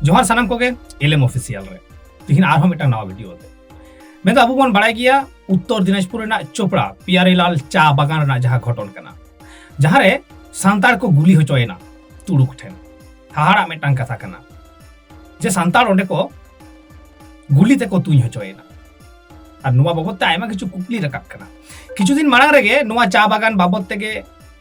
ᱡᱚᱦᱟᱨ ᱥᱟᱱᱟᱢ ᱠᱚᱜᱮ ᱮᱞᱮᱢ ᱚᱯᱷᱤᱥᱤᱭᱟᱞ ᱨᱮ ᱛᱤᱦᱤᱧ ᱟᱨᱦᱚᱸ ᱢᱤᱫᱴᱟᱝ ᱱᱟᱣᱟ ᱵᱷᱤᱰᱤᱭᱳ ᱛᱮ ᱢᱮᱱᱫᱚ ᱟᱵᱚ ᱵᱚᱱ ᱵᱟᱲᱟᱭ ᱜᱮᱭᱟ ᱩᱛᱛᱚᱨ ᱫᱤᱱᱟᱡᱽᱯᱩᱨ ᱨᱮᱱᱟᱜ ᱪᱳᱯᱲᱟ ᱯᱤᱭᱟᱨᱤᱞᱟᱞ ᱪᱟ ᱵᱟᱜᱟᱱ ᱨᱮᱱᱟᱜ ᱡᱟᱦᱟᱸ ᱜᱷᱚᱴᱚᱱ ᱠᱟᱱᱟ ᱡᱟᱦᱟᱸᱨᱮ ᱥᱟᱱᱛᱟᱲ ᱠᱚ ᱜᱩᱞᱤ ᱦᱚᱪᱚᱭᱮᱱᱟ ᱛᱩᱲᱩᱠ ᱴᱷᱮᱱ ᱦᱟᱦᱟᱲᱟᱜ ᱢᱤᱫᱴᱟᱝ ᱠᱟᱛᱷᱟ ᱠᱟᱱᱟ ᱡᱮ ᱥᱟᱱᱛᱟᱲ ᱚᱸᱰᱮ ᱠᱚ ᱜᱩᱞᱤ ᱛᱮᱠᱚ ᱛᱩᱧ ᱦᱚᱪᱚᱭᱮᱱᱟ ᱟᱨ ᱱᱚᱣᱟ ᱵᱟᱵᱚᱫ ᱛᱮ ᱟᱭᱢᱟ ᱠᱤᱪᱷᱩ ᱠᱩᱠᱞᱤ ᱨᱟᱠᱟᱵ ᱠᱟᱱᱟ ᱠᱤᱪᱷᱩ ᱫᱤᱱ ᱢᱟᱲᱟᱝ ᱨᱮᱜᱮ ᱱᱚᱣᱟ ᱪᱟ ᱵᱟᱜᱟᱱ ᱵᱟᱵᱚᱫ ᱛᱮᱜᱮ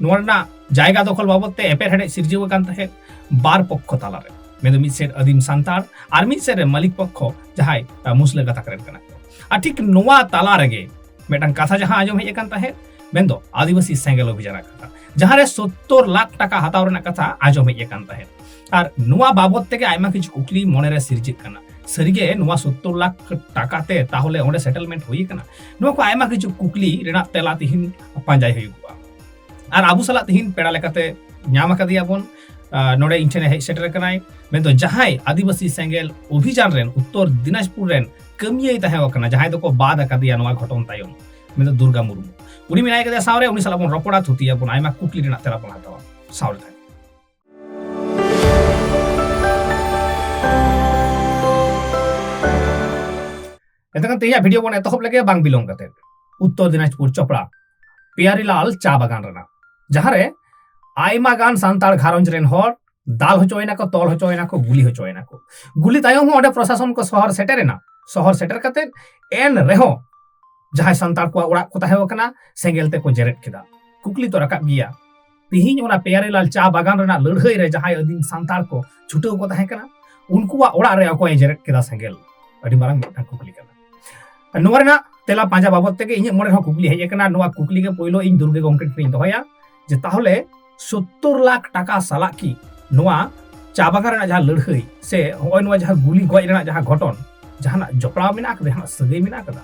ᱱᱚᱣᱟ ᱨᱮᱱᱟᱜ ᱡᱟᱭᱜᱟ ᱫᱚᱠᱷᱚᱞ ᱵᱟᱵᱚᱫ ᱛᱮ ᱮᱯᱮᱨᱦᱮᱰᱮᱡ ᱥᱤᱨᱡᱟᱹᱣ ᱟᱠᱟᱱ ᱛᱟᱦᱮᱸᱫ ᱵᱟᱨ ᱯᱚᱠᱠᱷᱚ ᱛᱟᱞᱟᱨᱮ ᱢᱮᱱᱫᱚ ᱢᱤᱫ ᱥᱮᱫ ᱟᱹᱫᱤᱢ ᱥᱟᱱᱛᱟᱲ ᱟᱨ ᱢᱤᱫ ᱥᱮᱫ ᱨᱮ ᱢᱟᱹᱞᱤᱠ ᱯᱚᱠᱠᱷᱚ ᱡᱟᱦᱟᱸᱭ ᱢᱩᱥᱞᱟᱹ ᱜᱟᱛᱟᱠ ᱨᱮᱱ ᱠᱟᱱᱟ ᱠᱚ ᱟᱨ ᱴᱷᱤᱠ ᱱᱚᱣᱟ ᱛᱟᱞᱟ ᱨᱮᱜᱮ ᱢᱤᱫᱴᱟᱝ ᱠᱟᱛᱷᱟ ᱡᱟᱦᱟᱸ ᱟᱸᱡᱚᱢ ᱦᱮᱡ ᱟᱠᱟᱱ ᱛᱟᱦᱮᱸᱫ ᱢᱮᱱᱫᱚ ᱟᱹᱫᱤᱵᱟᱹᱥᱤ ᱥᱮᱸᱜᱮᱞ ᱚᱵᱷᱤᱡᱟᱱᱟᱜ ᱠᱟᱛᱷᱟ ᱡᱟᱦᱟᱸᱨᱮ ᱥᱚᱛᱛᱚᱨ ᱞᱟᱠᱷ ᱴᱟᱠᱟ ᱦᱟᱛᱟᱣ ᱨᱮᱱᱟᱜ ᱠᱟᱛᱷᱟ ᱟᱸᱡᱚᱢ ᱦᱮᱡ ᱟᱠᱟᱱ ᱛᱟᱦᱮᱸᱫ ᱟᱨ ᱱᱚᱣᱟ ᱵᱟᱵᱚᱛ ᱛᱮᱜᱮ ᱟᱭᱢᱟ ᱠᱤᱪᱷᱩ ᱠᱩᱠᱞᱤ ᱢᱚᱱᱮᱨᱮ ᱥᱤᱨᱡᱟᱹᱜ ᱠᱟᱱᱟ ᱥᱟᱹᱨᱤᱜᱮ ᱱᱚᱣᱟ ᱥᱚᱛᱛᱚᱨ ᱞᱟᱠᱷ ᱴᱟᱠᱟ ᱛᱮ ᱛᱟᱦᱚᱞᱮ ᱚᱸᱰᱮ ᱥᱮᱴᱮᱞᱢᱮᱱᱴ ᱦᱩᱭ ᱟᱠᱟᱱᱟ ᱱᱚᱣᱟ ᱠᱚ ᱟᱭᱢᱟ ᱠᱤᱪᱷᱩ ᱠᱩᱠᱞᱤ ᱨᱮᱱᱟᱜ ᱛᱮᱞᱟ ᱛᱤᱦᱤᱧ ᱯᱟᱸᱡᱟᱭ ᱦᱩᱭᱩᱜᱼᱟ ᱟᱨ ᱟᱵᱚ ᱥᱟᱞᱟᱜ ᱛᱮᱦᱤᱧ ᱯᱮᱲᱟ ᱞᱮᱠᱟᱛᱮ ᱧᱟᱢ ᱟᱠᱟᱫᱮᱭᱟ ᱵᱚᱱ ᱱᱚᱰᱮ ᱤᱧ ᱴᱷᱮᱱ ᱦᱮᱡ ᱥᱮᱴᱮᱨ ᱟᱠᱟᱱᱟᱭ ᱢᱮᱱᱫᱚ ᱡᱟᱦᱟᱸᱭ ᱟᱹᱫᱤᱵᱟᱹᱥᱤ ᱥᱮᱸᱜᱮᱞ ᱚᱵᱷᱤᱡᱟᱱ ᱨᱮᱱ ᱩᱛᱛᱚᱨ ᱫᱤᱱᱟᱡᱽᱯᱩᱨ ᱨᱮᱱ ᱠᱟᱹᱢᱤᱭᱟᱹᱭ ᱛᱟᱦᱮᱸ ᱟᱠᱟᱱᱟ ᱡᱟᱦᱟᱸᱭ ᱫᱚᱠᱚ ᱵᱟᱫ ᱟᱠᱟᱫᱮᱭᱟ ᱱᱚᱣᱟ ᱜᱷᱚᱴᱚᱱ ᱛᱟᱭᱚᱢ ᱢᱮᱱᱫᱚ ᱫᱩᱨᱜᱟ ᱢᱩᱨᱢᱩ ᱩᱱᱤ ᱢᱮᱱᱟᱭ ᱠᱟᱫᱮᱭᱟ ᱥᱟᱶᱨᱮ ᱩᱱᱤ ᱥᱟᱞᱟᱜ ᱵᱚᱱ ᱨᱚᱯᱚᱲᱟ ᱛᱷᱩᱛᱤᱭᱟ ᱵᱚᱱ ᱟᱭᱢᱟ ᱠᱩᱠᱞᱤ ᱨᱮᱱᱟᱜ ᱛᱮᱞᱟ ᱵᱚᱱ ᱦᱟᱛᱟᱣᱟ ᱥᱟᱶᱨᱮ ᱛᱟᱦᱮᱸ ᱮᱱᱛᱮᱠᱷᱟᱱ ᱛᱮᱦᱮᱧᱟᱜ ᱵᱷᱤᱰᱤᱭᱳ ᱵᱚᱱ ᱮᱛᱚᱦᱚᱵ ᱞᱮᱜᱮ ᱵᱟᱝ ᱵᱤᱞᱚᱢ ᱠᱟᱛᱮ ᱩᱛᱛᱚᱨ ᱫᱤᱱᱟᱡᱽᱯᱩᱨ ᱪᱚᱯᱲᱟ ᱯᱮᱭᱟᱨᱤᱞᱟᱞ ᱪᱟ ᱵᱟᱜᱟᱱ ᱨᱮᱱᱟᱜ ᱡᱟᱦᱟᱸᱨᱮ ᱟᱭᱢᱟ ᱜᱟᱱ ᱥᱟᱱᱛᱟᱲ ᱜᱷᱟᱨᱚᱸᱡᱽ ᱨᱮᱱ ᱦᱚᱲ ᱫᱟᱞ ᱦᱚᱪᱚᱭᱮᱱᱟᱠᱚ ᱛᱚᱞ ᱦᱚᱪᱚᱭᱮᱱᱟᱠᱚ ᱜᱩᱞᱤ ᱦᱚᱪᱚᱭᱮᱱᱟᱠᱚ ᱜᱩᱞᱤ ᱛᱟᱭᱚᱢ ᱦᱚᱸ ᱚᱸᱰᱮ ᱯᱨᱚᱥᱟᱥᱚᱱ ᱠᱚ ᱥᱚᱦᱚᱨ ᱥᱮᱴᱮᱨᱮᱱᱟ ᱥᱚᱦᱚᱨ ᱥᱮᱴᱮᱨ ᱠᱟᱛᱮ ᱮᱱ ᱨᱮᱦᱚᱸ ᱡᱟᱦᱟᱸᱭ ᱥᱟᱱᱛᱟᱲ ᱠᱚᱣᱟᱜ ᱚᱲᱟᱜ ᱠᱚ ᱛᱟᱦᱮᱸ ᱠᱟᱱᱟ ᱥᱮᱸᱜᱮᱞ ᱛᱮᱠᱚ ᱡᱮᱨᱮᱫ ᱠᱮᱫᱟ ᱠᱩᱠᱞᱤ ᱛᱚ ᱨᱟᱠᱟᱵ ᱜᱮᱭᱟ ᱛᱮᱦᱮᱧ ᱚᱱᱟ ᱯᱮᱭᱟᱨᱮᱞᱟᱞ ᱪᱟ ᱵᱟᱜᱟᱱ ᱨᱮᱱᱟᱜ ᱞᱟᱹᱲᱦᱟᱹᱭ ᱨᱮ ᱡᱟᱦᱟᱸᱭ ᱟᱹᱫᱤᱢ ᱥᱟᱱᱛᱟᱲ ᱠᱚ ᱪᱷᱩᱴᱟᱹᱣ ᱠᱚ ᱛᱟᱦᱮᱸ ᱠᱟᱱᱟ ᱩᱱᱠᱩᱣᱟᱜ ᱚᱲᱟᱜ ᱨᱮ ᱚᱠᱚᱭ ᱡᱮᱨᱮᱫ ᱠᱮᱫᱟ ᱥᱮᱸᱜᱮᱞ ᱟᱹᱰᱤ ᱢᱟᱨᱟᱝ ᱢᱤᱫᱴᱟᱝ ᱠᱩᱠᱞᱤ ᱠᱟᱱᱟ ᱱᱚᱣᱟ ᱨᱮᱱᱟᱜ ᱛᱮᱞᱟ ᱯᱟᱸᱡᱟ ᱵᱟᱵᱚᱫ ᱛᱮᱜᱮ ᱤᱧᱟᱹᱜ ᱢᱚᱱᱮ ᱨᱮᱦᱚᱸ ᱠᱩᱠᱞᱤ ᱦᱮᱡ ᱟᱠᱟᱱᱟ ᱱᱚᱣᱟ ᱠᱩᱠᱞᱤ ᱜᱮ ᱯᱳᱭᱞᱳ ᱤᱧ ᱫᱩᱨᱜᱮ ᱜᱚᱢᱠᱮ ᱴᱷᱮᱱᱤᱧ ᱫᱚᱦᱚᱭᱟ ᱡᱮ ᱛᱟᱦᱚᱞᱮ ᱥᱳᱛᱛᱳᱨ ᱞᱟᱠᱷ ᱴᱟᱠᱟ ᱥᱟᱞᱟᱜ ᱠᱤ ᱱᱚᱣᱟ ᱪᱟ ᱵᱟᱜᱟᱱ ᱨᱮᱱᱟᱜ ᱡᱟᱦᱟᱸ ᱞᱟᱹᱲᱦᱟᱹᱭ ᱥᱮ ᱦᱚᱸᱜᱼᱚᱭ ᱱᱚᱣᱟ ᱡᱟᱦᱟᱸ ᱜᱩᱞᱤ ᱜᱚᱡ ᱨᱮᱱᱟᱜ ᱡᱟᱦᱟᱸ ᱜᱷᱚᱴᱚᱱ ᱡᱟᱦᱟᱱᱟᱜ ᱡᱚᱯᱲᱟᱣ ᱢᱮᱱᱟᱜ ᱟᱠᱟᱫᱟ ᱡᱟᱦᱟᱱᱟᱜ ᱥᱟᱹᱜᱟᱹᱭ ᱢᱮᱱᱟᱜ ᱟᱠᱟᱫᱟ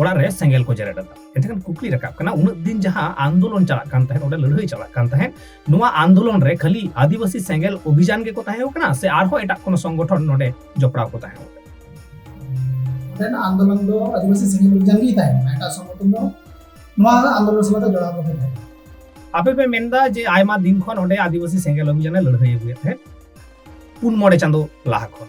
ᱚᱲᱟᱜ ᱨᱮ ᱥᱮᱸᱜᱮᱞ ᱠᱚ ᱡᱮᱨᱮᱫ ᱞᱮᱫᱟ ᱮᱱᱠᱷᱟᱱ ᱠᱩᱠᱞᱤ ᱨᱟᱠᱟᱵ ᱠᱟᱱᱟ ᱩᱱᱟᱹᱜ ᱫᱤᱱ ᱡᱟᱦᱟᱸ ᱟᱱᱫᱳᱞᱚᱱ ᱪᱟᱞᱟᱜ ᱠᱟᱱ ᱛᱟᱦᱮᱸᱫ ᱚᱸᱰᱮ ᱞᱟᱹᱲᱦᱟᱹᱭ ᱪᱟᱞᱟᱜ ᱠᱟᱱ ᱛᱟᱦᱮᱸᱫ ᱱᱚᱣᱟ ᱟᱱᱫᱳᱞᱚᱱ ᱨᱮ ᱠᱷᱟᱹᱞᱤ ᱟᱹᱫᱤᱵᱟᱹᱥᱤ ᱥᱮᱸᱜᱮᱞ ᱚᱵᱷᱤᱡᱟᱱ ᱜᱮᱠᱚ ᱛᱟᱦᱮᱸ ᱠᱟᱱᱟ ᱥᱮ ᱟᱨᱦᱚᱸ ᱮᱴᱟᱜ ᱠᱳᱱᱳ ᱥᱚᱝᱜᱚᱴᱷᱚᱱ ᱱᱚᱰᱮ ᱡᱚᱯᱲᱟᱣ ᱠᱚ ᱛᱟᱦᱮᱸ ᱠᱟᱱᱟ ᱟᱱᱫᱳᱞᱚᱱ ᱫᱚ ᱟᱹᱫᱤᱵᱟᱹᱥᱤ ᱥᱮᱸᱜᱮᱞ ᱚᱵᱷᱤᱡᱟᱱ ᱜᱮ ᱛᱟᱦᱮᱸ ᱠᱟᱱᱟ ᱮᱴᱟᱜ ᱥᱚᱝᱜᱚᱴᱷᱚᱱ ᱫᱚ ᱱᱚᱣᱟ ᱟᱱᱫᱳᱞᱚᱱ ᱥᱟᱞᱟᱜ ᱫᱚ ᱡᱚᱲᱟᱣ ᱵᱟᱠᱚ ᱛᱟᱦᱮᱸ ᱟᱯᱮ ᱯᱮ ᱢᱮᱱᱫᱟ ᱡᱮ ᱟᱭᱢᱟ ᱫᱤᱱ ᱠᱷᱚᱱ ᱚᱸᱰᱮ ᱟᱹᱫᱤᱵᱟᱹᱥᱤ ᱥᱮᱸᱜᱮᱞ ᱚᱵᱷᱤᱡᱟᱱᱮ ᱞᱟᱹᱲᱦᱟᱹᱭ ᱟᱹᱜᱩᱭᱮᱫ ᱛᱟᱦᱮᱸᱫ ᱯᱩᱱ ᱢᱚᱬᱮ ᱪᱟᱸᱫᱳ ᱞᱟᱦᱟ ᱠᱷᱚᱱ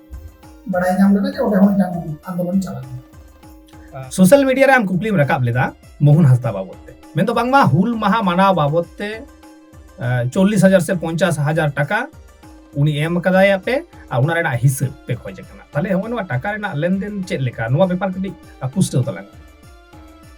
ᱵᱟᱲᱟᱭ ᱧᱟᱢ ᱞᱮᱱᱟ ᱡᱮ ᱚᱸᱰᱮ ᱦᱚᱸ ᱢᱤᱫᱴᱟᱝ ᱟᱱᱫᱳᱞᱚᱱ ᱪᱟᱞᱟᱜ ᱠᱟᱱᱟ ᱥᱳᱥᱟᱞ ᱢᱤᱰᱤᱭᱟ ᱨᱮ ᱟᱢ ᱠᱩᱠᱞᱤᱢ ᱨᱟᱠᱟᱵ ᱞᱮᱫᱟ ᱢᱳᱦᱚᱱ ᱦᱟᱸᱥᱫᱟ ᱵᱟᱵᱚᱫ ᱛᱮ ᱢᱮᱱᱫᱚ ᱵᱟᱝᱢᱟ ᱦᱩᱞ ᱢᱟᱦᱟ ᱢᱟᱱᱟᱣ ᱵᱟᱵᱚᱫ ᱛᱮ ᱪᱚᱞᱞᱤᱥ ᱦᱟᱡᱟᱨ ᱥᱮ ᱯᱚᱧᱪᱟᱥ ᱦᱟᱡᱟᱨ ᱴᱟᱠᱟ ᱩᱱᱤ ᱮᱢ ᱠᱟᱫᱟᱭ ᱟᱯᱮ ᱟᱨ ᱚᱱᱟ ᱨᱮᱱᱟᱜ ᱦᱤᱥᱟᱹᱵ ᱯᱮ ᱠᱷᱚᱡ ᱠᱟᱱᱟ ᱛᱟᱦᱞᱮ ᱦᱚᱸᱜᱼᱚ ᱱᱚᱣᱟ ᱴᱟᱠᱟ ᱨᱮᱱᱟᱜ ᱞᱮᱱᱫᱮᱱ ᱪᱮᱫ ᱞᱮᱠᱟ ᱱᱚᱣᱟ ᱵᱮᱯᱟᱨ ᱠᱟᱹᱴᱤᱡ ᱯᱩᱥᱴᱟᱹᱣ ᱛᱟᱞᱟᱝ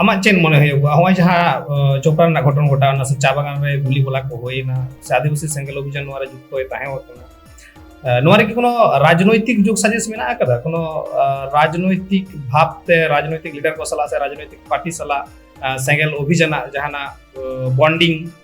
ᱟᱢᱟᱜ ᱪᱮᱫ ᱢᱚᱱᱮ ᱦᱩᱭᱩᱜᱼᱟ ᱱᱚᱜᱼᱚᱭ ᱡᱟᱦᱟᱸ ᱡᱚᱯᱲᱟ ᱨᱮᱱᱟᱜ ᱜᱷᱚᱴᱚᱱ ᱜᱷᱚᱴᱟᱣᱱᱟ ᱥᱮ ᱪᱟ ᱵᱟᱜᱟᱱ ᱨᱮ ᱜᱩᱞᱤ ᱜᱚᱞᱟ ᱠᱚ ᱦᱩᱭᱱᱟ ᱥᱮ ᱟᱹᱫᱤᱵᱟᱹᱥᱤ ᱥᱮᱸᱜᱮᱞ ᱚᱵᱷᱤᱡᱟᱱ ᱱᱚᱣᱟ ᱨᱮ ᱡᱩᱠᱛᱚᱭ ᱛᱟᱦᱮᱸ ᱟᱠᱟᱱᱟ ᱱᱚᱣᱟ ᱨᱮᱜᱮ ᱠᱳᱱᱳ ᱨᱟᱡᱽᱱᱳᱭᱛᱤᱠ ᱡᱳᱜᱽ ᱥᱟᱡᱮᱥ ᱢᱮᱱᱟᱜ ᱟᱠᱟᱫᱟ ᱠᱳᱱᱳ ᱨᱟᱡᱽᱱᱳᱭᱛᱤᱠ ᱵᱷᱟᱵᱽ ᱛᱮ ᱨᱟᱡᱽᱱᱳᱭᱛᱤᱠ ᱞᱤᱰᱟᱨ ᱠᱚ ᱥᱟᱞᱟᱜ ᱥᱮ ᱨᱟᱡᱽᱱᱳᱭᱛᱤᱠ ᱯᱟᱨᱴᱤ ᱥᱟᱞᱟᱜ ᱥᱮᱸᱜᱮᱞ ᱚᱵᱷᱤᱡᱟᱱᱟᱜ ᱡᱟᱦᱟᱱᱟᱜ ᱵᱚᱱᱰᱤᱝ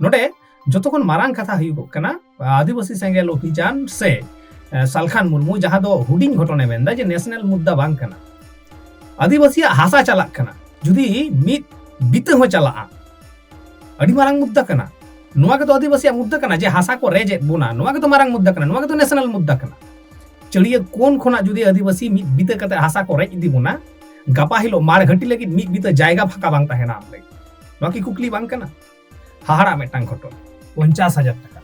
ᱱᱚᱰᱮ ᱡᱚᱛᱚ ᱠᱷᱚᱱ ᱢᱟᱨᱟᱝ ᱠᱟᱛᱷᱟ ᱦᱩᱭᱩᱜᱚᱜ ᱠᱟᱱᱟ ᱟᱹᱫᱤᱵᱟᱹᱥᱤ ᱥᱮᱸᱜᱮᱞ ᱚᱵᱷᱤᱡᱟᱱ ᱥᱮ ᱥᱟᱞᱠᱷᱟᱱ ᱢᱩᱨᱢᱩ ᱡᱟᱦᱟᱸ ᱫᱚ ᱦᱩᱰᱤᱧ ᱜᱷᱚᱴᱚᱱᱮ ᱢᱮᱱᱫᱟ ᱡᱮ ᱱᱮᱥᱱᱟᱞ ᱢᱩᱫᱽᱫᱟ ᱵᱟᱝ ᱠᱟᱱᱟ ᱟᱹᱫᱤᱵᱟᱹᱥᱤᱭᱟᱜ ᱦᱟᱥᱟ ᱪᱟᱞᱟᱜ ᱠᱟᱱᱟ ᱡᱩᱫᱤ ᱢᱤᱫ ᱵᱤᱛᱟᱹ ᱦᱚᱸ ᱪᱟᱞᱟᱜᱼᱟ ᱟᱹᱰᱤ ᱢᱟᱨᱟᱝ ᱢᱩᱫᱽᱫᱟ ᱠᱟᱱᱟ ᱱᱚᱣᱟ ᱜᱮᱛᱚ ᱟᱹᱫᱤᱵᱟᱹᱥᱤᱭᱟᱜ ᱢᱩᱫᱽᱫᱟ ᱠᱟᱱᱟ ᱡᱮ ᱦᱟᱥᱟ ᱠᱚ ᱨᱮᱡᱮᱫ ᱵᱚᱱᱟ ᱱᱚᱣᱟ ᱜᱮᱛᱚ ᱢᱟᱨᱟᱝ ᱢᱩᱫᱽᱫᱟ ᱠᱟᱱᱟ ᱱᱚᱣᱟ ᱜᱮᱛᱚ ᱱᱮᱥᱱᱟᱞ ᱢᱩᱫᱽᱫᱟ ᱠᱟᱱᱟ ᱪᱟᱹᱲᱤᱭᱟᱹ ᱠᱚᱱ ᱠᱷᱚᱱᱟᱜ ᱡᱩᱫᱤ ᱟᱹᱫᱤᱵᱟᱹᱥᱤ ᱢᱤᱫ ᱵᱤᱛᱟᱹ ᱠᱟᱛᱮ ᱦᱟᱥᱟ ᱠᱚ ᱨᱮᱡ ᱤᱫᱤ ᱵᱚᱱᱟ ᱜᱟᱯᱟ ᱦᱤᱞᱳᱜ ᱢᱟᱲ ᱜᱷᱟᱹᱴᱤ ᱞᱟᱹᱜᱤᱫ ᱢᱤᱫ ᱵᱤᱛᱟᱹ ᱡᱟᱭᱜᱟ ᱯᱷᱟᱸᱠᱟ ᱵᱟᱝ ᱛᱟᱦᱮᱱᱟ ᱟᱢ ᱞᱟᱹᱜᱤᱫ ᱱᱚᱣᱟ ᱠᱤ ᱠᱩᱠᱞᱤ ᱵᱟᱝ ᱠᱟᱱᱟ ᱦᱟᱦᱟᱲᱟ ᱢᱤᱫᱴᱟᱝ ᱜᱷᱚᱴᱚᱱ ᱯᱚᱧᱪᱟᱥ ᱦᱟᱡᱟᱨ ᱴᱟᱠᱟ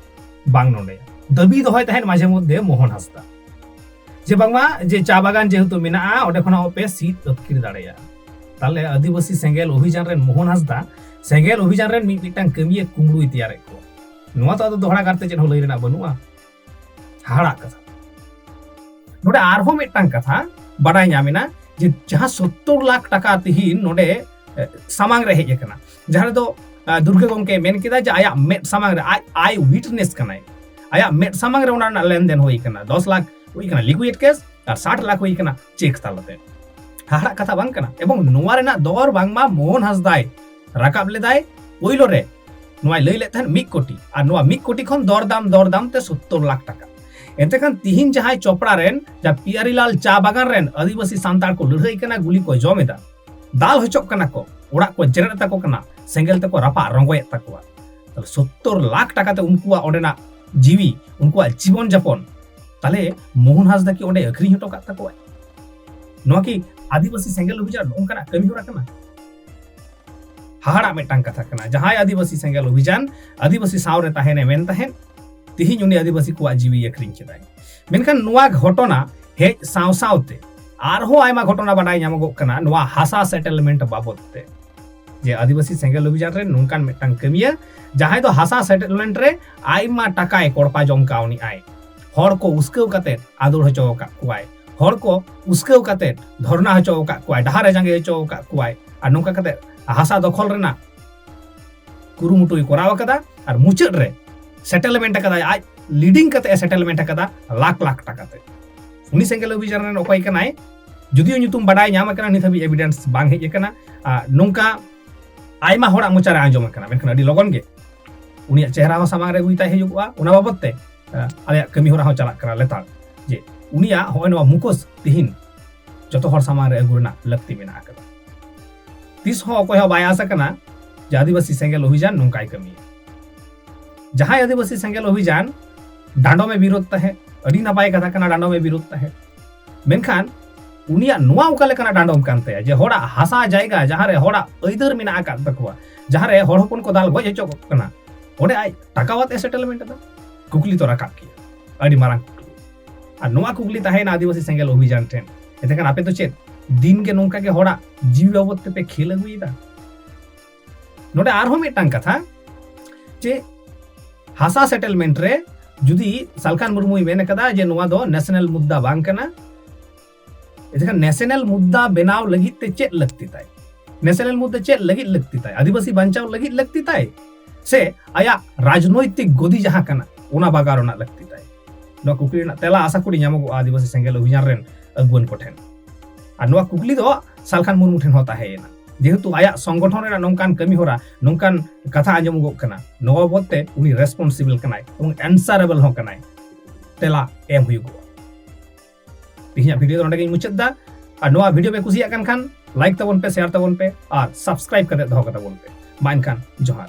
ᱵᱟᱝ ᱱᱚᱰᱮ ᱫᱟᱹᱵᱤ ᱫᱚᱦᱚᱭ ᱛᱟᱦᱮᱸᱫ ᱢᱟᱡᱷᱮ ᱢᱚᱫᱽᱫᱷᱮ ᱢᱳᱦᱚᱱ ᱦᱟᱸᱥᱫᱟ ᱡᱮ ᱵᱟᱝᱢᱟ ᱡᱮ ᱪᱟ ᱵᱟᱜᱟᱱ ᱡᱮᱦᱮᱛᱩ ᱢᱮᱱᱟᱜᱼᱟ ᱚᱸᱰᱮ ᱠᱷᱚᱱᱟᱜ ᱯᱮ ᱥᱤᱫ ᱟᱹᱛᱠᱤᱨ ᱫᱟᱲᱮᱭᱟᱜᱼᱟ ᱛᱟᱦᱞᱮ ᱟᱹᱫᱤᱵᱟᱹᱥᱤ ᱥᱮᱸᱜᱮᱞ ᱚᱵᱷᱤᱡᱟᱱ ᱨᱮᱱ ᱢᱳᱦᱚᱱ ᱦᱟᱸᱥᱫᱟ ᱥᱮᱸᱜᱮᱞ ᱚᱵᱷᱤᱡᱟᱱ ᱨᱮᱱ ᱢᱤᱫ ᱢᱤᱫᱴᱟᱝ ᱠᱟᱹᱢᱤᱭᱮ ᱠᱩᱢᱲᱩᱭ ᱛᱮᱭᱟᱨᱮᱫ ᱠᱚᱣᱟ ᱱᱚᱣᱟ ᱫᱚ ᱟᱫᱚ ᱫᱚᱦᱲᱟ ᱠᱟᱨᱛᱮ ᱪᱮᱫ ᱦᱚᱸ ᱞᱟᱹᱭ ᱨᱮᱱᱟᱜ ᱵᱟᱹᱱᱩᱜᱼᱟ ᱦᱟᱦᱟᱲᱟᱜ ᱠᱟᱛᱷᱟ ᱱᱚᱰᱮ ᱟᱨᱦᱚᱸ ᱢᱤᱫᱴᱟᱝ ᱠᱟᱛᱷᱟ ᱵᱟᱰᱟᱭ ᱧᱟᱢᱮᱱᱟ ᱡᱮ ᱡᱟᱦᱟᱸ ᱥᱚᱛᱛᱚᱨ ᱞᱟᱠᱷ ᱴᱟᱠᱟ ᱛᱤᱦᱤᱧ ᱱᱚᱰᱮ ᱥᱟᱢᱟᱝ ᱨᱮ ᱦᱮᱡ ᱟᱠᱟᱱᱟ ᱡᱟᱦᱟᱸ ᱨᱮᱫᱚ ᱫᱩᱨᱜᱟᱹ ᱜᱚᱢᱠᱮ ᱢᱮᱱ ᱠᱮᱫᱟ ᱡᱮ ᱟᱭᱟᱜ ᱢᱮᱫ ᱥᱟᱢᱟᱝ ᱨᱮ ᱟᱡ ᱟᱭ ᱣᱤᱴᱱᱮᱥ ᱠᱟᱱᱟᱭ ᱟᱭᱟᱜ ᱢᱮᱫ ᱥᱟᱢᱟᱝ ᱨᱮ ᱚᱱᱟ ᱨᱮᱱᱟᱜ ᱞᱮᱱᱫᱮᱱ ᱦᱩᱭ ᱟᱠᱟᱱᱟ ᱫᱚᱥ ᱞᱟᱠᱷ ᱦᱩᱭ ᱟᱠᱟᱱᱟ ᱞᱤᱠᱩᱭᱤᱰ ᱠᱮᱥ ᱟᱨ ᱥᱟᱴ ᱞᱟᱠᱷ ᱦᱩᱭ ᱟᱠᱟᱱᱟ ᱪᱮᱠ ᱛᱟᱞᱟᱛᱮ ᱦᱟᱦᱟᱲᱟᱜ ᱠᱟᱛᱷᱟ ᱵᱟᱝ ᱠᱟᱱᱟ ᱮᱵᱚᱝ ᱱᱚᱣᱟ ᱨᱮᱱᱟᱜ ᱫᱚᱨ ᱵᱟᱝᱢᱟ ᱢᱳᱦᱚᱱ ᱦᱟᱸᱥᱫᱟᱭ ᱨᱟᱠᱟᱵ ᱞᱮᱫᱟᱭ ᱯᱳᱭᱞᱳ ᱨᱮ ᱱᱚᱣᱟᱭ ᱞᱟᱹᱭ ᱞᱮᱫ ᱛᱟᱦᱮᱸᱫ ᱢᱤᱫ ᱠᱳᱴᱤ ᱟᱨ ᱱᱚᱣᱟ ᱢᱤᱫ ᱠᱳᱴᱤ ᱠᱷᱚᱱ ᱫᱚᱨᱫᱟᱢ ᱫᱚᱨᱫᱟᱢ ᱛᱮ ᱥᱳᱛᱛᱳᱨ ᱞᱟᱠᱷ ᱴᱟᱠᱟ ᱮᱱᱛᱮ ᱠᱷᱟᱱ ᱛᱤᱦᱤᱧ ᱡᱟᱦᱟᱸᱭ ᱪᱚᱯᱲᱟ ᱨᱮᱱ ᱡᱟ ᱯᱤᱭᱟᱨᱤᱞᱟᱞ ᱪᱟ ᱵᱟᱜᱟᱱ ᱨᱮᱱ ᱟᱹᱫᱤᱵᱟᱹᱥᱤ ᱥᱟᱱᱛᱟᱲ ᱠᱚ ᱞᱟᱹᱲᱦᱟᱹᱭ ᱠᱟᱱᱟ ᱜᱩᱞᱤ ᱠᱚ ᱡᱚᱢ ᱮᱫᱟ ᱫᱟᱞ ᱦᱚᱪᱚᱜ ᱠᱟᱱᱟ ᱠᱚ ᱚᱲᱟᱜ ᱠᱚ ᱡᱮᱨᱮᱫ ᱛᱟᱠᱚ ᱠᱟᱱᱟ ᱥᱮᱸᱜᱮᱞ ᱛᱮᱠᱚ ᱨᱟᱯᱟᱜ ᱨᱚᱸᱜᱚᱭᱮᱫ ᱛᱟᱠᱚᱣᱟ ᱛᱟᱦᱞᱮ ᱥᱳᱛᱛᱳᱨ ᱞᱟᱠᱷ ᱴᱟᱠᱟ ᱛᱮ ᱩᱱᱠᱩᱣᱟᱜ ᱚᱸᱰᱮᱱᱟᱜ ᱡᱤᱣᱤ ᱩᱱᱠᱩᱣᱟᱜ ᱡᱤᱵᱚᱱ ᱡᱟᱯᱚᱱ ᱛᱟᱦᱞᱮ ᱢᱳᱦᱚᱱ ᱦᱟᱸᱥᱫᱟ ᱠᱤ ᱚᱸᱰᱮ ᱟᱹᱠᱷᱨᱤᱧ ᱦᱚᱴᱚ ᱠᱟᱜ ᱛᱟᱠᱚᱣᱟᱭ ᱱᱚᱣᱟ ᱠᱤ ᱟᱹᱫᱤᱵᱟᱹᱥᱤ ᱥᱮᱸᱜᱮᱞ ᱚᱵᱷᱤᱡᱟᱱ ᱱᱚᱝᱠᱟᱱᱟᱜ ᱠᱟᱹᱢᱤ ᱦᱚᱨᱟ ᱠᱟᱱᱟ ᱦᱟᱦᱟᱲᱟᱜ ᱢᱤᱫᱴᱟᱝ ᱠᱟᱛᱷᱟ ᱠᱟᱱᱟ ᱡᱟᱦᱟᱸᱭ ᱟᱹᱫᱤᱵᱟᱹᱥᱤ ᱥᱮᱸᱜᱮᱞ ᱚᱵᱷᱤᱡᱟᱱ ᱟᱹᱫᱤᱵᱟᱹᱥᱤ ᱥᱟᱶᱨᱮ ᱛᱟᱦᱮᱱᱮ ᱢᱮᱱ ᱛᱟᱦᱮᱸᱫ ᱛᱤᱦᱤᱧ ᱩᱱᱤ ᱟᱹᱫᱤᱵᱟᱹᱥᱤ ᱠᱚᱣᱟᱜ ᱡᱤᱣᱤ ᱟᱹᱠᱷᱨᱤᱧ ᱠᱮᱫᱟᱭ ᱢᱮᱱᱠᱷᱟᱱ ᱱᱚᱣᱟ ᱜᱷᱚᱴᱚᱱᱟ ᱦᱮᱡ ᱥᱟᱶ ᱥᱟᱶᱛᱮ ᱟᱨᱦᱚᱸ ᱟᱭᱢᱟ ᱜᱷᱚᱴᱚᱱᱟ ᱵᱟᱰᱟᱭ ᱧᱟᱢᱚᱜᱚᱜ ᱠᱟᱱᱟ ᱱᱚᱣᱟ ᱦᱟᱥᱟ ᱥᱮᱴᱮᱞᱢᱮᱱᱴ ᱵᱟᱵᱚᱫ ᱛᱮ ᱡᱮ ᱟᱹᱫᱤᱵᱟᱹᱥᱤ ᱥᱮᱸᱜᱮᱞ ᱚᱵᱷᱤᱡᱟᱱ ᱨᱮ ᱱᱚᱝᱠᱟᱱ ᱢᱤᱫᱴᱟᱝ ᱠᱟᱹᱢᱤᱭᱟ ᱡᱟᱦᱟᱸᱭ ᱫᱚ ᱦᱟᱥᱟ ᱥᱮᱴᱮᱞᱢᱮᱱᱴ ᱨᱮ ᱟᱭᱢᱟ ᱴᱟᱠᱟᱭ ᱠᱚᱲᱯᱟ ᱡᱚᱢ ᱠᱟᱣᱱᱤᱜᱼᱟᱭ ᱦᱚᱲ ᱠᱚ ᱩᱥᱠᱟᱹᱣ ᱠᱟᱛᱮ ᱟᱫᱚᱲ ᱦᱚᱪᱚ ᱟᱠᱟᱫ ᱠᱚᱣᱟᱭ ᱦᱚᱲ ᱠᱚ ᱩᱥᱠᱟᱹᱣ ᱠᱟᱛᱮ ᱫᱷᱚᱨᱱᱟ ᱦᱚᱪᱚ ᱟᱠᱟᱫ ᱠᱚᱣᱟᱭ ᱰᱟᱦᱟᱨ ᱮ ᱡᱟᱸᱜᱮ ᱦᱚᱪᱚ ᱟᱠᱟᱫ ᱠᱚᱣᱟᱭ ᱟᱨ ᱱᱚᱝᱠᱟ ᱠᱟᱛᱮ ᱦᱟᱥᱟ ᱫᱚᱠᱷᱚᱞ ᱨᱮᱱᱟᱜ ᱠᱩᱨᱩᱢᱩᱴᱩᱭ ᱠᱚᱨᱟᱣ ᱟᱠᱟᱫᱟ ᱟᱨ ᱢᱩᱪᱟᱹᱫ ᱨᱮ ᱥᱮᱴᱮᱞᱢᱮᱱᱴ ᱟᱠᱟᱫᱟᱭ ᱟᱡ ᱞᱤᱰᱤᱝ ᱠᱟᱛᱮ ᱥᱮᱴᱮᱞᱢᱮᱱᱴ ᱟᱠᱟᱫᱟ ᱞᱟᱠᱷ ᱞᱟᱠᱷ ᱴᱟᱠᱟ ᱛᱮ ᱩᱱᱤ ᱥᱮᱸᱜᱮᱞ ᱚᱵᱷᱤᱡᱟᱱ ᱨᱮᱱ ᱚᱠᱚᱭ ᱠᱟᱱᱟᱭ ᱡᱩᱫᱤᱭᱳ ᱧᱩᱛᱩᱢ ᱵᱟᱰᱟᱭ ᱧᱟᱢ ᱟᱠᱟᱱᱟ ᱱᱤᱛ ᱦᱟᱹᱵᱤᱡ ᱮᱵᱤᱰᱮᱱᱥ ᱵᱟᱝ ᱦᱮᱡ ᱟᱠᱟᱱᱟ ᱱᱚᱝᱠᱟ ᱟᱭᱢᱟ ᱦᱚᱲᱟᱜ ᱢᱚᱪᱟᱨᱮ ᱟᱸᱡᱚᱢ ᱟᱠᱟᱱᱟ ᱢᱮᱱᱠᱷᱟᱱ ᱟᱹᱰᱤ ᱞᱚᱜᱚᱱ ᱜᱮ ᱩᱱᱤᱭᱟᱜ ᱪᱮᱦᱨᱟ ᱦᱚᱸ ᱥᱟᱢᱟᱝ ᱨᱮ ᱦᱩᱭ ᱛᱟᱭ ᱦᱩᱭᱩᱜᱼᱟ ᱚᱱᱟ ᱵᱟᱵᱚᱛ ᱛᱮ ᱟᱞᱮᱭᱟᱜ ᱠᱟᱹᱢᱤ ᱦᱚᱨᱟ ᱦᱚᱸ ᱪᱟᱞᱟᱜ ᱠᱟᱱᱟ ᱞᱮᱛᱟᱲ ᱡᱮ ᱩᱱᱤᱭᱟᱜ ᱦᱚᱸᱜᱼᱚᱭ ᱱᱚᱣᱟ ᱢᱩᱠᱚᱥ ᱛᱤᱦᱤᱧ ᱡᱚᱛᱚ ᱦᱚᱲ ᱥᱟᱢᱟᱝ ᱨᱮ ᱟᱹᱜᱩ ᱨᱮᱱᱟᱜ ᱞᱟᱹᱠᱛᱤ ᱢᱮᱱᱟᱜ ᱟᱠᱟᱫᱟ ᱛᱤᱥ ᱦᱚᱸ ᱚᱠᱚᱭ ᱦᱚᱸ ᱵᱟᱭ ᱟᱥ ᱟᱠᱟᱱᱟ ᱡᱮ ᱟᱹᱫᱤᱵᱟᱹᱥᱤ ᱥᱮᱸᱜᱮᱞ ᱚᱵᱷᱤᱡᱟᱱ ᱱᱚᱝᱠᱟᱭ ᱠᱟᱹᱢᱤᱭᱟ ᱡᱟᱦᱟᱸᱭ ᱟᱹᱫᱤᱵᱟᱹᱥᱤ ᱥᱮᱸᱜᱮᱞ ᱚᱵᱷᱤᱡᱟᱱ ᱰᱟᱸᱰᱚᱢᱮ ᱵᱤᱨᱳᱫ ᱛᱟᱦᱮᱸᱫ ᱟᱹᱰᱤ ᱱᱟᱯᱟᱭ ᱠᱟᱛᱷᱟ ᱠᱟᱱᱟ ᱰᱟᱸᱰᱚᱢᱮ ᱵᱤᱨᱳᱫ ᱛᱟᱦᱮᱸᱫ ᱢᱮᱱᱠᱷᱟᱱ ᱩᱱᱤᱭᱟᱜ ᱱᱚᱣᱟ ᱚᱠᱟ ᱞᱮᱠᱟᱱᱟᱜ ᱰᱟᱸᱰᱚᱢ ᱠᱟᱱ ᱛᱟᱭᱟ ᱡᱮ ᱦᱚᱲᱟᱜ ᱦᱟᱥᱟ ᱡᱟᱭᱜᱟ ᱡᱟᱦᱟᱸᱨᱮ ᱦᱚᱲᱟᱜ ᱟᱹᱭᱫᱟᱹᱨ ᱢᱮᱱᱟᱜ ᱟᱠᱟᱫ ᱛᱟᱠᱚᱣᱟ ᱡᱟᱦᱟᱸᱨᱮ ᱦᱚᱲ ᱦᱚᱯᱚᱱ ᱠᱚ ᱫᱟᱞ ᱜᱚᱡ ᱦᱚᱪᱚ ᱠᱟᱱᱟ ᱚᱸᱰᱮ ᱟᱡ ᱴᱟᱠᱟᱣᱟᱛ ᱮ ᱥᱮᱴᱮᱞᱢᱮᱱᱴ ᱮᱫᱟ ᱠᱩᱠᱞᱤ ᱛᱚ ᱨᱟᱠᱟᱵ ᱜᱮᱭᱟ ᱟᱹᱰᱤ ᱢᱟᱨᱟᱝ ᱠᱩᱠᱞᱤ ᱟᱨ ᱱᱚᱣᱟ ᱠᱩᱠᱞᱤ ᱛᱟᱦᱮᱸᱭᱮᱱᱟ ᱟᱹᱫᱤᱵᱟᱹᱥᱤ ᱥᱮᱸᱜᱮᱞ ᱚᱵᱷᱤᱡᱟᱱ ᱴᱷᱮᱱ ᱮᱱᱛᱮᱠᱷᱟᱱ ᱟᱯᱮ ᱫᱚ ᱪᱮᱫ ᱫᱤᱱ ᱜᱮ ᱱᱚᱝᱠᱟ ᱜᱮ ᱦᱚᱲᱟᱜ ᱡᱤᱣᱤ ᱵᱟᱵᱚᱫ ᱛᱮᱯᱮ ᱠᱷᱮᱞ ᱟᱹᱜᱩᱭᱮᱫᱟ ᱱᱚᱰᱮ ᱟᱨᱦᱚᱸ ᱢᱤᱫᱴᱟᱝ ᱠᱟᱛᱷᱟ ᱡᱮ ᱦᱟᱥᱟ ᱥᱮᱴᱮᱞᱢᱮᱱᱴ ᱨᱮ ᱡᱩᱫᱤ ᱥᱟᱞᱠᱷᱟᱱ ᱢᱩᱨᱢᱩᱭ ᱢᱮᱱ ᱟᱠᱟᱫᱟ ᱡᱮ ᱱᱚᱣᱟ ᱫᱚ ᱱᱮᱥᱱᱟᱞ ᱢᱩᱫᱽᱫᱟ ᱵᱟᱝ ᱠᱟᱱᱟ ᱮᱱᱠᱷᱟᱱ ᱱᱮᱥᱱᱟᱞ ᱢᱩᱫᱽᱫᱟ ᱵᱮᱱᱟᱣ ᱞᱟᱹᱜᱤᱫ ᱛᱮ ᱪᱮᱫ ᱞᱟᱹᱠᱛᱤ ᱛᱟᱭ ᱱᱮᱥᱱᱟᱞ ᱢᱩᱫᱽᱫᱟ ᱪᱮᱫ ᱞᱟᱹᱜᱤᱫ ᱞᱟᱹᱠᱛᱤ ᱛᱟᱭ ᱟᱹᱫᱤᱵᱟᱹᱥᱤ ᱵᱟᱧᱪᱟᱣ ᱞᱟᱹᱜᱤᱫ ᱞᱟᱹᱠᱛᱤ ᱛᱟᱭ ᱥᱮ ᱟᱭᱟᱜ ᱨᱟᱡᱽᱱᱳᱭᱛᱤᱠ ᱜᱚᱫᱤ ᱡᱟᱦᱟᱸ ᱠᱟᱱᱟ ᱚᱱᱟ ᱵᱟᱜᱟᱣ ᱨᱮᱱᱟᱜ ᱞᱟᱹᱠᱛᱤ ᱛᱟᱭ ᱱᱚᱣᱟ ᱠᱩᱠᱞᱤ ᱨᱮᱱᱟᱜ ᱛᱮᱞᱟ ᱟᱥᱟ ᱠᱚᱨᱤ ᱧᱟᱢᱚᱜᱚᱜᱼᱟ ᱟᱹᱫᱤᱵᱟᱹᱥᱤ ᱥᱮᱸᱜᱮᱞ ᱚᱵᱷᱤᱡᱟᱱ ᱨᱮᱱ ᱟᱹᱜᱩᱣᱟᱹᱱ ᱠᱚᱴᱷᱮᱱ ᱟᱨ ᱱᱚᱣᱟ ᱠᱩᱠᱞᱤ ᱫᱚ ᱥᱟᱞᱠᱷᱟᱱ ᱢᱩᱨᱢᱩ ᱴᱷᱮᱱ ᱦᱚᱸ ᱛᱟᱦᱮᱸᱭᱮᱱᱟ ᱡᱮᱦᱮᱛᱩ ᱟᱭᱟᱜ ᱥᱚᱝᱜᱚᱴᱷᱚᱱ ᱨᱮᱱᱟᱜ ᱱᱚᱝᱠᱟᱱ ᱠᱟᱹᱢᱤ ᱦᱚᱨᱟ ᱱᱚᱝᱠᱟᱱ ᱠᱟᱛᱷᱟ ᱟᱸᱡᱚᱢᱚᱜᱚᱜ ᱠᱟᱱᱟ ᱱᱚᱣᱟ ᱵᱟᱵᱚᱫ ᱛᱮ ᱩᱱᱤ ᱨᱮᱥᱯᱚᱱᱥᱤᱵᱤᱞ ᱠᱟᱱᱟᱭ ᱮᱵᱚᱝ ᱮᱱᱥᱟᱨᱮᱵᱮᱞ ᱦᱚᱸ ᱠᱟᱱᱟᱭ ᱛᱮᱞᱟ ᱮᱢ ᱦᱩᱭᱩᱜᱚᱜᱼᱟ ᱛᱮᱦᱮᱧᱟᱜ ᱵᱷᱤᱰᱤᱭᱳ ᱫᱚ ᱱᱚᱰᱮ ᱜᱤᱧ ᱢᱩᱪᱟᱹᱫ ᱫᱟ ᱟᱨ ᱱᱚᱣᱟ ᱵᱷᱤᱰᱤᱭᱳ ᱯᱮ ᱠᱩᱥᱤᱭᱟᱜ ᱠᱟᱱ ᱠᱷᱟᱱ ᱞᱟᱭᱤᱠ ᱛᱟᱵᱚᱱ ᱯᱮ ᱥᱮᱭᱟᱨ ᱛᱟᱵᱚᱱ ᱯᱮ ᱟᱨ ᱥᱟᱵᱥᱠᱨᱟᱭᱤᱵ ᱠᱟᱛᱮ ᱫᱚᱦᱚ ᱠᱟᱛᱟᱵᱚᱱ ᱯᱮ ᱢᱟ ᱮᱱᱠᱷᱟᱱ ᱡᱚᱦᱟᱨ